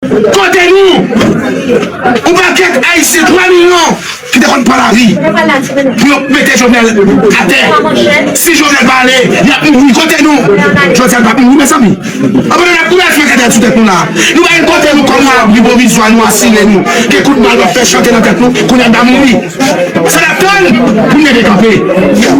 Kote nou? Yon pakèt Ayisyen 3 milyon ki te konn pran lavi pou yo mete Jovenel atè. Si Jovenel pa ale, y ap mouri. Kote nou? Jodi a nou pa mouri mezanmi. Anpandan n ap boule fè kèdèt sou tèt nou la a, nou pa gen kote nou kòm abri pwovizwa nou asire nou ke kout bal pa fè chante nan tèt nou, kounye a n pa mouri. Bon sa nap tann pou nèg yo kanpe yeah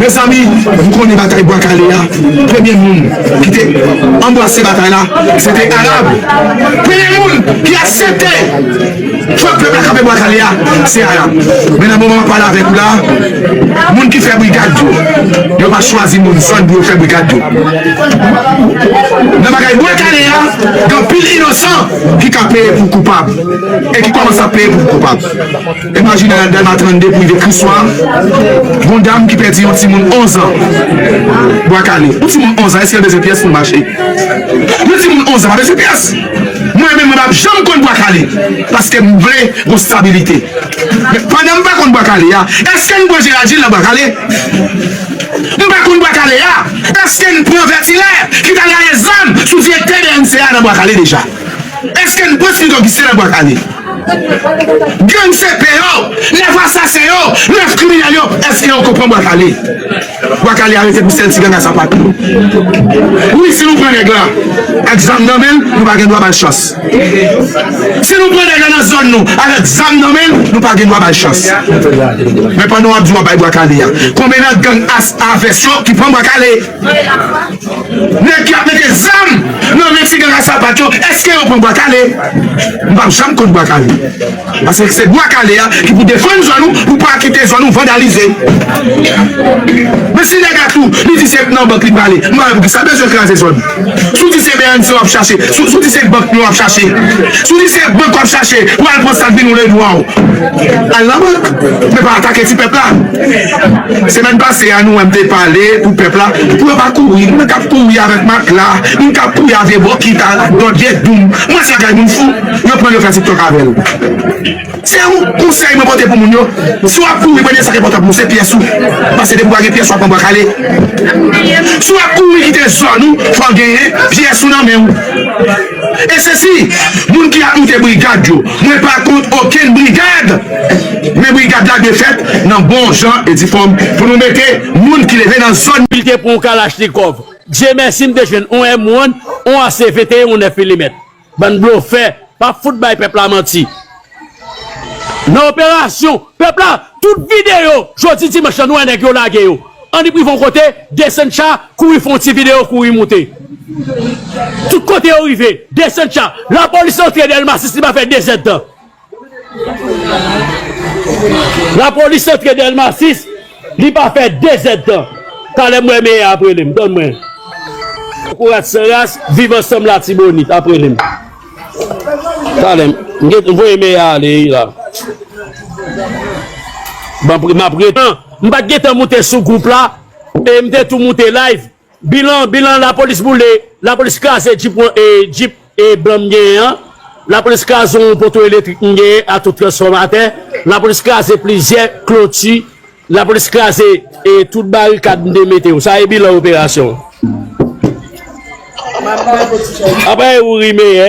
mezanmi m konnen batay bwa kale a premye moun ki te anbrase batay la se te Arab premye moun ki aksepte fòk pèp la kanpe bwa kale a se Arab men nan moman map pale avèk ou la moun ki fè brigad yo yo pa chwazi moun san pou yo fè brigad yo nan bagay bwa kale a gen anpil inosan ki ka peye pou koupab e ki kòmanse ap peye pou koupab. Imajine nan Dèlma 32 pou rive Kriswa, gon dam ki pèdi yon timoun 11 an. Bwa kale. Yon timoun 11 an èske l bezwen pyès pou l mache? Yon timoun 11 an pa bezwen pyès. Mwen menm mwen pa p janm konn Bwa kale paske m vle gon stabilite. Men pandan m pa konn Bwa kale a, èske n pran Jeradjil nan Bwa kale? M pa konn Bwa kale a, èske n pran Vètilè ki t al raye zam sou direktè bnca a nan Bwa kale deja? Èske n pran Smith Augustin nan Bwa kale? Gang se pè yo, 9 asasen yo, 9 kriminèl yo, eske yo konpran bwa kale? Bwa kale arete pou sèl ti ganga sa pa tou. Wi si nou pran nèg la ak zam nan menl nou pa gen dwa bal chans. Si nou pran nèg la nan zòn nou avèk zam nan menl nou pa gen dwa bal chans. Men pandan wap di wap bay bwa kale a, konbyen nan gang as a vès yo ki pran bwa kale? Nèg ki ap mete zam nan men ti gang a sapat yo eske yo pran bwa kale? M pap janm kont bwa kale paske se bwa kale a ki pou defann zòn ou pou pa kite zòn ou vandalize men si nèg a tou li di se nan bank li prale m pa wè poukisa l bezwen kraze zòn si w di se bnc wap chache si w di se bank nou ap chache si w di se bank wap chache pou al pran sak vin ou ledwaw al nan bank men pa atake ti pèp la. Semèn pase a nou wè m te pale pou pèp la pou yo pa kouri, mwen kap kouri avèk matla, m kap kouri a vye bokit a do vye doum, mwen se bagay moun fou, yo pranl yo fè tiktok avèl. Se yon konsèy mwen pote pou moun yo, si wap kouri premye sa ki enpòtan pou ou se pyès ou, paske depi ou pa gen pyès wap pran bwa kale. Si wap kouri kite zòn ou fòw genyen pyès ou nan menw. E se si moun ki ap moute brigad yo, mwen pa kont okenn brigad, men brigad la dwe fèt nan bon jan e di fòm pou nou mete moun ki leve nan zòn. Li te pran yon kalachnikòv. Dye mèsi m te jwenn yon M one, yon AC 21 yon 9 milimèt. Bann blofè, pap fout bay pèp la manti. Nan operasyon pèp la tout videyo jodi dimanch lan nou wè nèg yo lage yo an li prive yon kote desann cha kouri fè yon ti videyo kouri moute tout kote yo rive desann cha lapolis antre delma 6 li pa fè 2 zèd tan lapolis antre delma 6. Li pa fè 2 zèd tan. Talè m wè Meyè ap rele m. Tann mwen. Kokorat san ras, viv ansanm Latibonit ap rele m. Talè m gen voye Meyè ale wi la. Banm m ap ret. M pa t gen tan moute sou gwoup la e m te tou moute live. Bilan Bilan Lapolis boule Lapolis kraze Djip mwen e Djip e blan m genyen an Lapolis kraze yon poto elektrik m genyen ak tout transfòmatè Lapolis kraze plizyè kloti Lapolis kraze e tout barikad m te mete yo Sa e bilan operasyon Apre Youri Meyè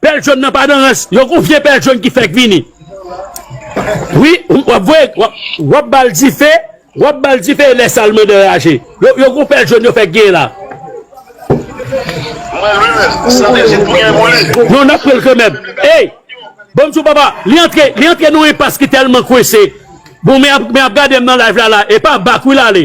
Pèl jòn nan pa nan rans. Yo gon vye pèl jòn ki fèk vini wi wap voye wap bal dife wap bal dife e lè sal mande raje yo gon pèl jòn yo fèk genyen la. Mwen lwen menm, sante jis pou gen pou li. Non nap pranl kanmenm ey Bonm diw papa li antre li antre nan enpas ki tèlman kwense bon men ap gadem nan live la la epa bak wi lale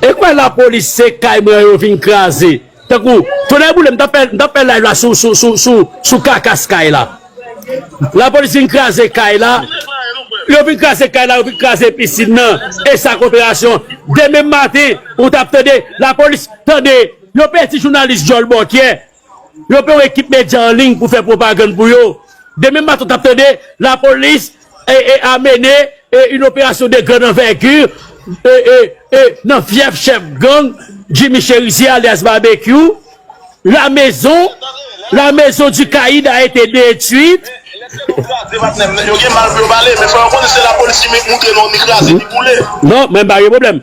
E kwen la police se kay mwen yo vin kraze tankou tonè boulem m tap fè live la sou kakas kay la la police vin kraze kay la yo vin kraze kay la yo vin kraze piscine nan e sa koperasyon demen maten ou tap tande la police tande yo pèdi jounalis dyòl bòkyè Yo pran yon ekip medya an liy pou fè pwopagann pou yo. Demen maten w t ap tande lapolis a mennen yon operasyon de grand anvègir nan fyèf chèf gang Jimmy Cherizier alyas Babekyou. La mezon, la mezon di Kayid a ete detwit. Non, mwen pa gen pwoblèm.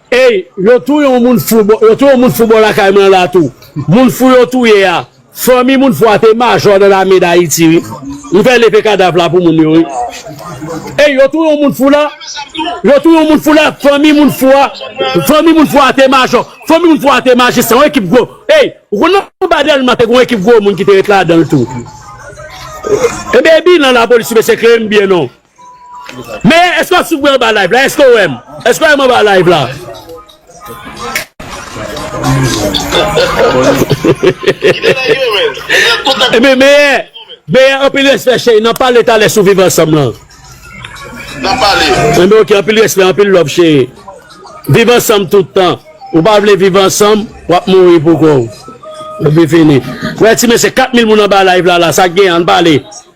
Ey yo touye yon moun fou bò yo touye yon moun fou bò lakay mwen an la tou moun fou yo touye a fanmi moun fou a te majò nan lame dayiti wi m fè leve kadav la pou moun yo wi ey yo touye yon moun fou la yo touye yon moun fou la fanmi moun fou a fanmi moun fou a te majò fanmi moun fou a te majistra yon ekip gwo ey ou konn nan anba dèlma te gen yon ekip gwo moun ki te ret ladan l tou ebyen bilan lapolis mesye klere m byen non. Men eske wap swiv mwen anba live la eske ou wèm eske ou wèm anba live la Ebyen meyè meyè anpil respè cheri nap pale talè sou viv ansanm lan Ebyen ok anpil respè anpil love cheri viv ansanm tout tan ou pa vle viv ansanm wap mouri pou kòw epi fini wè ti mesye 4000 moun anba live la la sak gen an pale.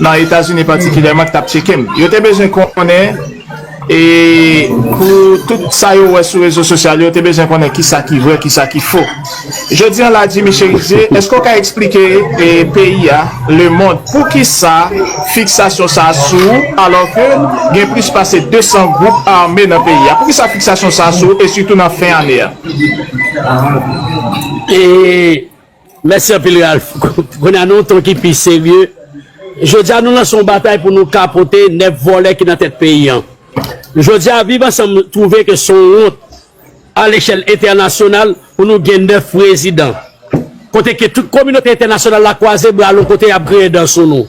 nan Etazini patikilèman ki t ap tyeke m. Yo te bezwen konnen e pou tout sa yo wè sou rezo sosyal yo, yo te bezwen konnen ki sa ki vrè, ki sa ki fo. Jodi an la, Jimmy Cherizier, èske w ka eksplike peyi a, lemond, pou ki sa fiksasyon sa a sou ou alò ke gen plis pase 200 gwoup ame nan peyi a? Pou ki sa fiksasyon sa a sou ou e sitou nan fen ane a? E. Mèsi anpil Ralph. Kounye a nan yon ton ki pi serye, Jodi a nou lanse yon batay pou nou kapote 9 vòlè ki nan tèt peyi an. Jodi a Viv Ansanm twouve ke se yon wont a lechèl entènasyonal pou nou gen 9 prezidan. Kote ke tout kominote entènasyonal la kwaze bra l yon kote y ap griyen dan sou nou.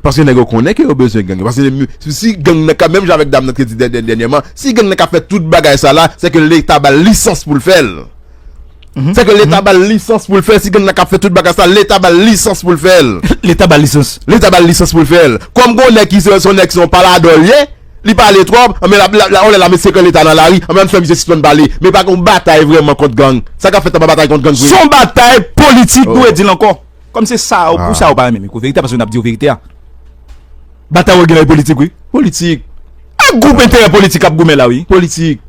Paske nèg yo konnen ke yo bezwen gang yo. Paske si gang nan ka, menm jan avèk dam nan te di dènyèman, si gang nan ka fè tout bagay sa la, se ke leta ba l lisans pou l fè l. Se ke leta ba l lisans pou l fè l. Si gang nan ka fè tout bagay sa, leta ba l lisans pou l fè l. Leta ba l lisans? Leta ba l lisans pou l fè l. Kòm gen yon nèg ki se yon nèg se yon paladò l ye, li pale twòp, anben l ap, yon lè l ap met sekrè leta nan lari, anben an fè misye sispann pale. Men pa gen yon batay vrèman kont gang. Sa k ap fèt la pa batay kont gang vre. Se yon batay politik nou e di l ankò. Kòm se sa ou pou sa ou pa renmen mikro verite a paske nap diw verite a. Batay wap gen la e politik wi. Politik. A group enterè politik kap goumen la wi. Politik.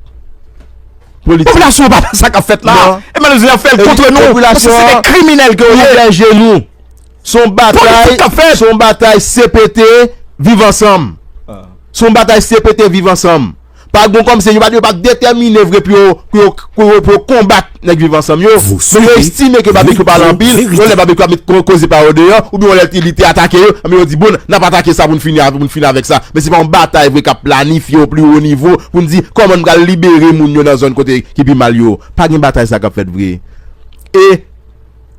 Politik. Popilasyon an pa wè sa kap fèt la. Non. E malèz la fèl kontre nou. Popilasyon an. Paske se de kriminèl ke ou ye. Popilasyon an gen genou. Son batay. Politik kap fèt. Son batay CPT viv ansanm. Son batay CPT viv ansanm. Pa gon kòmsi, yo pa t detèmine vre pou yo pou yo konbat nèg Viv Ansanm yo, men yo estime ke Babekyou pale anpil, yon lè Babekyou ap met koze pa yo deyò, oubyen yon lè li te atake yo, anben yo di bon, n ap atake sa pou n fini avèk sa. Men se pa yon batay vre k ap planifye o pli wo nivo pou n di kòman n pral libere moun yo nan zòn kote ki pi mal yo. Pa gen batay sa k ap fèt vre. E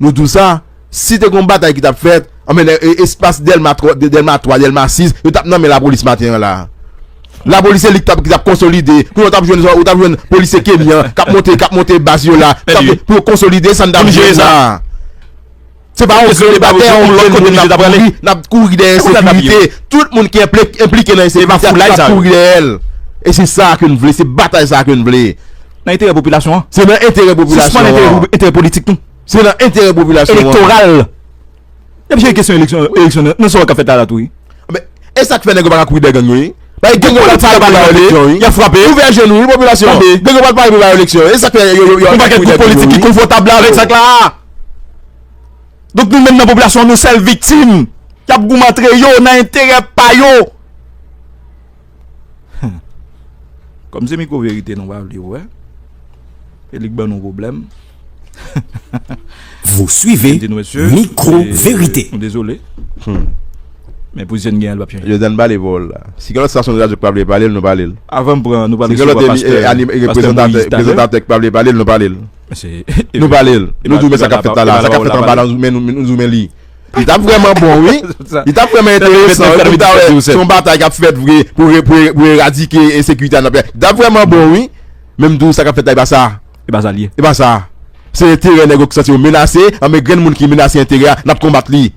nou di w sa. Si te gon batay ki tap fèt, anben nèg espas Dèlma 3, Dèlma 3, Dèlma 6, yo tap nan men lapolis maten an la. Lapolis se li ki tap konsolide, kounye a ou tap jwenn, ou tap jwenn polisye kenyan kap monte, kap monte baz yo la, kap fè pou yo konsolide sa n tap jwenn la. Se pa yon grenn batay, yon grenn moun nap kouri, nap kouri dèyè ensekirite. Tout moun ki enplike nan ensekirite a nap kouri dèyè l. E se sa a ke n vle, se batay sa a ke n vle. Nan enterè popilasyon an. Se nan enterè popilasyon an. Sispann enterè politik nou. Se nan enterè popilasyon an. Elektoral. N ap jere kesyon eleksyon nan sa w ka fè ta la tou wi. Anben, e sa k fè nèg yo pa ka kouri dèyè gang yo wi? Paske gang yo pral pare pou ba yo eleksyon wi. Y ap frape. Ouvè je nou wi popilasyon. Tande. Gang yo pral pare pou ba yo eleksyon wi. E sa k fè yo pa ka kouri dèyè gang yo wi. Yon pakèt gwoup politik ki konfòtab la avèk sa k la a. Donk nou menm nan popilasyon an nou sèl viktim k ap goumen antre yo nan enterè pa yo. Humm kòm se mikro verite nou pa vle wè e li k ban nou pwoblèm Vous suivez micro vérité. Nou dezole men pozisyon n gen an li pap chanje. Jozèn pale pou w la. Si gen lòt stasyon de radyo k pa vle pale l, nou pale l. Avan m pran, nou pral resevwa pastè Moïse talè. Si gen lòt reprezantatè, prezantatè k pa vle pale l, nou pale l. Nou pale l. Nou di w men sa k ap fèt la la. Sa k ap fèt anba la, nou di w men li. Li tap vreman bon wi. Li tap vreman enteresan wi pou nou ta wè si yon batay kap fèt vre pou eradike ensekirite a nan peyi. Li tap vreman bon wi. Men m di w sa kap fèt la e pa sa. E pa sa li ye. E pa sa. Se enterè nèg yo ki santi yo menase. Anben grenn moun ki menase enterè a nap konbat li.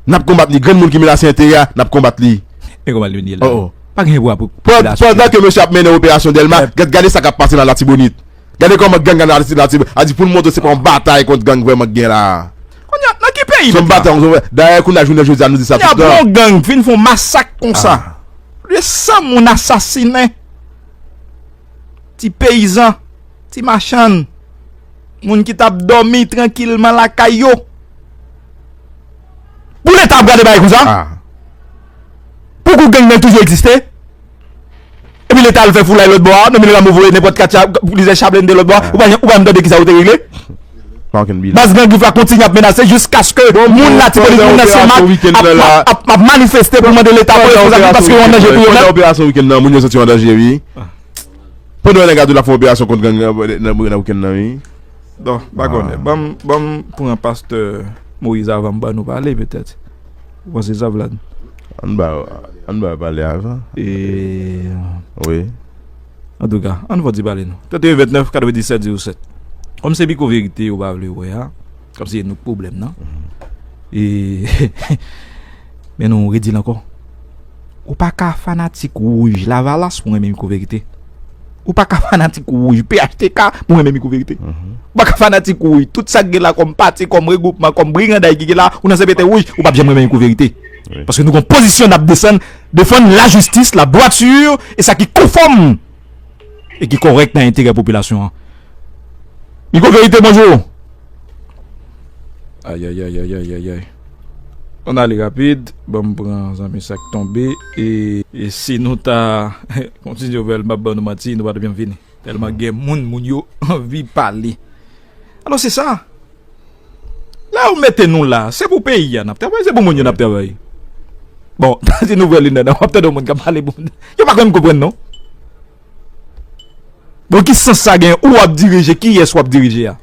Nap konbat li. Grenn moun ki menase enterè a nap konbat li. E konbat li menye la. Pandan ke mesye ap mennen operasyon Dèlma, gade sa kap pase nan Latibonit. Gade kòman gang an Aristide la a di pou n montre se pa yon batay kont gang vrèman k gen la a. Kounye a, nan ki peyi nou ye la? Se yon batay kont gang. Dayè kounye a jounen jodi a nou di sa tout tan. Kounye a pou yon gang vin fè yon masak konsa, lè 100 moun asasinen, ti peyizan, ti machann, moun ki t ap dòmi trankilman lakay yo, pou leta ap gade bagay konsa? Pou kou gang nan toujou egziste? Epi leta al fè foulay lòt bò a, Normil Rameau voye nenpòt katya, plizyè cha blende lòt bò a, ou pa janm tande kisa yo te regle. Baz Gran Grif la kontinye ap menase jiskaske moun Latibonit, moun nan Senmak ap manifeste pou mande leta voye fo zam yo paske yo an danje pou yo menm. Pandan operasyon wikenn nan, moun yo santi yo an danje wi. Pandan yon nèg a di l ap fè yon operasyon kont gang nan wikenn nan wi. Bon, m pa konnen. Ban m pran pastè Moïse avan m bannou pale petèt. Ou panse sa Vlad? Ann ba yo, ann ba yo pale avan. Eee. Wi. Antouka, ann fò ti pale nou. 31 29 97 07 Kòm se piko verite yo pa vle wè a, kòm se nou k pwoblèm nan, ee men nou redi l ankò. Ou pa ka fanatik wouj lavalas pou renmen piko verite. Ou pa ka fanatik wouj. Phtk, mwen renmen micro verite. Ou pa ka fanatik wouj. Tout sa ki gen la kom pati, kom regroupman, kom briganday ki gen la, ou nan CPT wouj, ou pap janm renmen micro verite. Paske nou gen pozisyon nap desann, defann la jistis, la dwatur, e sa ki konfom, e ki korek nan enterè popilasyon an. Micro verite, bonjour. Ayayayayayayay. Ann ale rapid, banm pran zanmi sak tonbe e si nou ta kontinye ouvè l map ban nou manti nou pa tap janm fini tèlman gen moun moun yo anvi pale alò se sa lè yo mete nou la se pou peyi a nap travay se pou moun yo nap travay bon si nou vrè linèt wap tande yon moun kap pale pou yo pa konn konprann non. Bon ki sans sa gen ou wap dirije kiyès wap dirije a?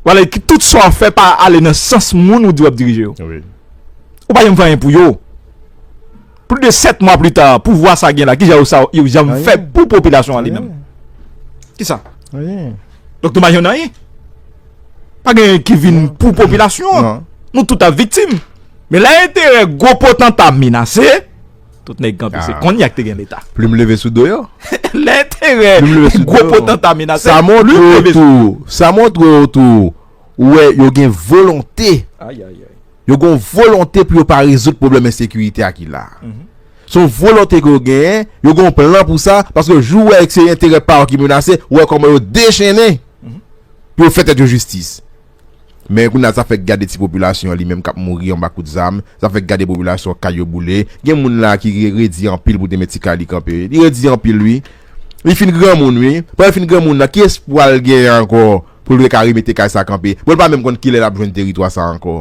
Wale ki tout sa wap fè pa ale nan sans moun ou di wap dirije yo. Ou pa janm fè anyen pou yo. Plus de 7 mwa pli ta pouvwa sa gen la ki jan yo sa yo janm fè pou popilasyon an li menm? Ki sa? Anyen. Donk nou pa janm nan anyen? Pa gen anyen ki vin pou popilasyon an? Nou tout ap viktim. Men la enterè gwo potanta menase. Tout nèg kanpe se konn yak te gen leta. Plim leve sou do yo. Lè enterè gwo potanta menase. Sa montre tou. Sa montre ou tou. Ou wè yo gen volonte. Yo gen volonte pou yo pa rezout probleme ensekirite a ki la. Son volonte ke yo gen. Yo gen plan pou sa. Paske jou wè se enterè pa ou ki menase. Ou wè kòman yo dechene. Pou yo fè tèt yo jistis. Men kounye a sa fèk gade ti popilasyon an li menm kap mouri anba kout zam, sa fèk gade popilasyon kay yo boule, gen moun la ki redi anpil pou te met ti kay li kanpe, li redi anpil wi, li fin granmoun wi, pandan li fin granmoun nan ki espwa l genyen ankò pou l reka remete kay sa kanpe, bon li pa menm konn kilè lap jwenn teritwa sa ankò.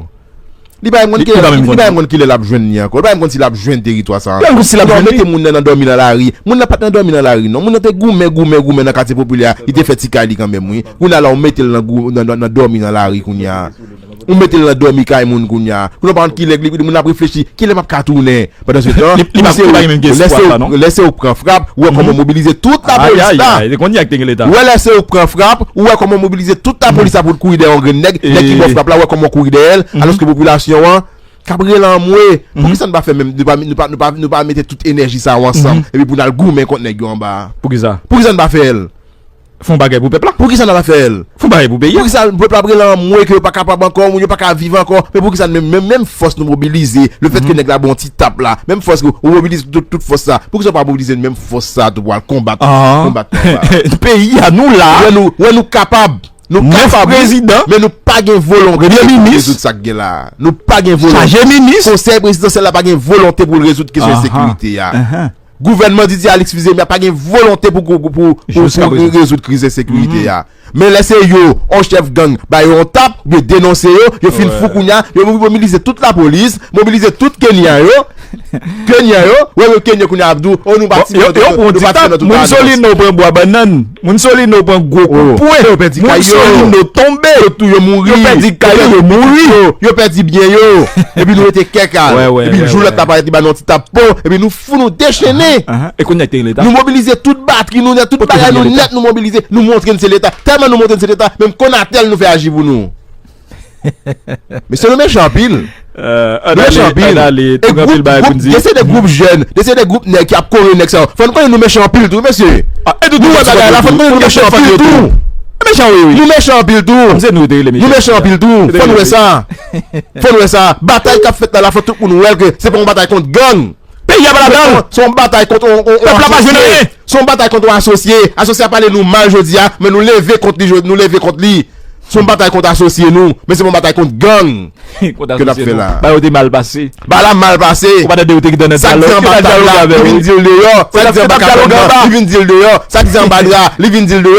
Li pa menm konn kilè li pa menm konn kilè lap jwenn li ankò, li pa menm konn si lap jwenn teritwa sa ankò. Li pa menm konn si lap jwenn li. Yo mete moun nan nan dòmi nan lari. Moun nan pat nan dòmi nan lari non. Moun nan te goumen, goumen, goumen nan katye popilè a, li te fè ti kay li kanmenm wi. Kounya la ou mete l nan gou nan nan dòmi nan lari kounya. Ou mete l nan dòmi kay moun kounya. Kounya ou pa konn kilè moun nan ap reflechi, kilè map ka tounen? Pandan se tan, lè se ou k pran frap, ou wè kòman ou mobilize tout lapolis la. Ou wè lè se ou k pran frap, ou wè kòman ou mobilize tout lapolis la pou l kouri dèyè yon grenn nèg, nèg ki ba w frap la ou wè kòman ou kouri dèyè l, alòske popilasyon an k ap rele anmwe. Poukisa n pa fè menm, nou pa mete tout enèji sa yo ansanm epi pou n al goumen kont nèg yo anba a? Poukisa n pa fè l? Fon bagay pou pèp la. Poukisa nap fè l. Fon bagay pou peyi a. Poukisa pèp la ap rele anmwe ke yo pa kapab ankò, moun yo pa ka viv ankò, men poukisa nou menm, menm fòs nou mobilize, le fèt ke nèg la ba w ti tap la, menm fòs ke ou mobilize tout, tout fòs sa, poukisa ou pa mobilize menm fòs sa tou pou al konbat, konbat nèg sa a. Peyi a nou la. Wè nou, wè nou kapab. Nou kapab wi. 9 prezidan. Men nou pa gen volonte pou nou rezoud sa k gen la a. Nou pa gen volonte. Chaje minis. Konsèy prezidansyèl la pa gen volonte pou l rezoud kesyon ensekirite a. Gouvènman Didier Alix vize m ya pa gen volonte pou rezoud kriz ensekirite ya. Men lè se yo, yon chèf gang ba yo yon tap oubyen denonse yo, yo fin fou kounya, yo mobilize tout lapolis, mobilize tout Kenyan yo, Kenyan yo, wè yon Kenyan kounya ap di w, oh nou pa ti moun, nou pa ti moun nan tout sa. Moussolino pran bwa bannann. Moun Solino pran gwo kout pwen, moun Solino tonbe, yo tou yo mouri, yo pèdi kay yo, yo mouri, yo pèdi byen yo, epi nou rete kèk al, epi jou lòt la parèt li ba nou yon ti tap po, epi nou fou nou dechennen, nou mobilize tout batri nou nèt, tout bagay nou nèt nou mobilize, nou montre n se leta, tèlman nou montre n se leta, menm Conatel nou fè aji pou nou. Mesye nou mechan anpil Nou mechan anpil Gen se de group jèn Gen se de group nèg ki ap kore nèg sa yo Fò nou konnen nou mechan anpil tou wi mesye Nou wè bagay la fò nou konnen nou mechan anpil tou Nou mechan anpil tou Nou mechan anpil tou Fò nou wè sa Fò nou wè sa Batay k ap fèt la la fò tout moun wè l ke se pa yon batay kont gang Peyi a pa ladan l Se yon batay kont Pèp la pa jwenn anyen Se yon batay kont yon asosye. Asosye a pale nou mal jodi a, men nou leve kont li, nou leve kont li. Se yon batay kont asosye nou, men se pa yon batay kont gang ke n ap fè la a. Ba yo te mal pase. Ba la mal pase. Ou pa tande yo te gen nan dyalòg. Sa ki di anba tab la, li vin di l deyò. Sa ki di anba kabann nan, li vin di l deyò. Sa ki di anba dra, li vin di l deyò.